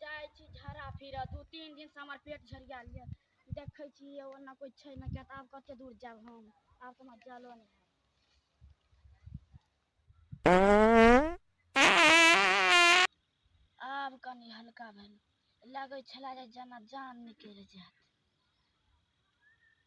जाइ छी झरा फिरऽ दू तीन दिनसँ हमर पेट झरिया लिअ देखै छी ओना कोइ छै ने किया तऽ आब कते दूर जायब हम आब तऽ हमरा जलो नहि आब कनि हल्का भेल लगै छला जे जेना जान निकलि जायत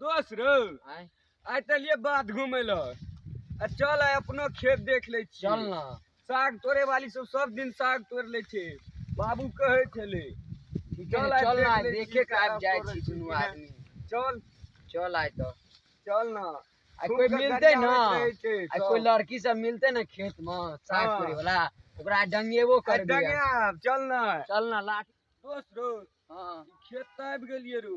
दोस्त रो आय आइ तऽ लिए बात घूमे ल आ चल आइ अपनो खेत देख ले छी चल ना साग तोड़े वाली सब सब दिन साग तोड़ ले छे बाबू कहे छले ठीक है चल ना आय देखे के आबि जाइ छी दुनू आदमी चल चल आय तो चल ना आ कोई मिलते ना आ कोई लड़की सब मिलते ना खेत में साग हाँ। तोड़े वाला ओकरा डंगेबो कर दिया चल ना चल ना लाठी दोस्त रो हाँ ई खेत तऽ आबि गेलिए रू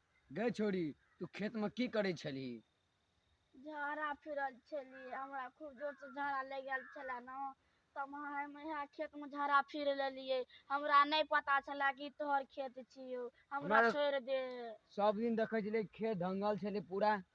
गै छोरी तू खेत में की करै छलही झाड़ा फिरल छली हमरा खूब जोर से झाड़ा लग गेल छला न तब हम यहाँ खेत में झाड़ा फिर लेलिए हमरा नहीं पता छला कि तोहर खेत छियो हमरा हमरा- छोड़ दे सब दिन देखै छलै खेत धंगल छलै पूरा